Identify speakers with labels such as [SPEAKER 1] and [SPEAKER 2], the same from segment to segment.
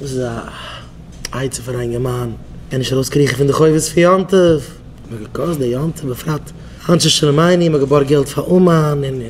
[SPEAKER 1] דאס איז א עצה פאר א אינגערמאן ער נישט ארויס קריכן פון די חובות פון יום טוב. מ'האט געקאסט די יום טוב בפרט אנשי שלומינו, מ'האט געבארגט געלט פאר אומאן און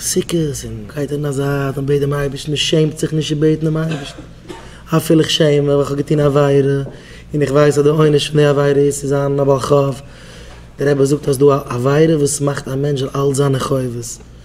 [SPEAKER 1] סוכות און גייט אין א זייט און בעט דעם אייבערשטן און שעמט זיך נישט צו בעטן דעם אייבערשטן אפילו איך שעם מיך ווייל כ'האב געטון עבירה און איך ווייס אז די עונש פון די עבירה איז צו זיין א בעל חוב. דער רבי זאגט אז ס'דא א עבירה וואס מאכט א מענטש זאל אלץ זיין אין חובות.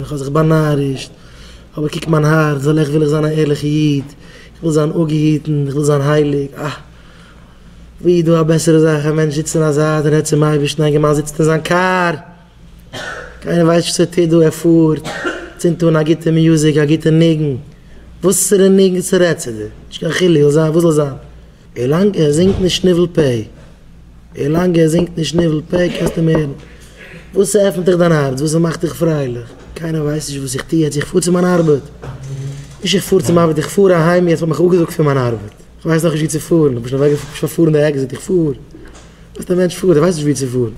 [SPEAKER 1] איך האב זיך באנארישט, אבער קוק מיין הארץ, זאל איך וויל איך זיין א ערליכע איד, איך וויל זיין אפגעהיטן, איך וויל זיין הייליג, אה! וואו איז דא א בעסערע זאך, א מענטש זיצט אין א זייט און רעדט צום אייבערשטן, א געמאן זיצט אין זיין קאר, קיינער ווייסט נישט וואס ער טוט דא, ער פארט, צינדט אן א גוטע מיוזיק, א גוטע ניגון, וואסערע ניגון ס'רעדט צו דיר, נישט קיין חילוק, זאל זיין וואס זאל זיין. ווילאנג ער זינגט נישט ניבול פה. ווילאנג ער זינגט נישט ניבול פה קענסטו אים הערן. וואס ס'עפנט דיך דיין הארץ, וואס ס'מאכט דיך פרייליך. קיינער ווייסט נישט וואס איך טו יעצט, איך פאר צו מיין ארבעט. נישט איך פאר צום ארבעט, איך פאר אהיים יעצט, מ'האט מיך אפגעזאגט פון מיין ארבעט. איך ווייס נאכנישט וואו צו פארן, איך בין שוין אוועק, שוין פארן די עקזיט, איך פאר. וואס די מענטש פארט, ער ווייסט נישט וואו צו פארן.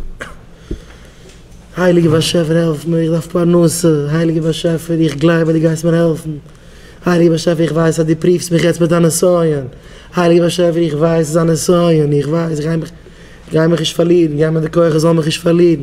[SPEAKER 1] הייליגער באשעפער העלף מיר, איך דארף פרנסה, הייליגער באשעפער איך גלייב אז דו גייסט מיר העלפן. הייליגער באשעפער איך ווייס אז דו פריוו'סט מיך יעצט מיט א נסיון, הייליגער באשעפער איך ווייס ס'איז א נסיון, איך ווייס, גיי מיך, גיי מיך נישט פארלירן, גיב מיר די כח איך זאל מיך נישט פארלירן.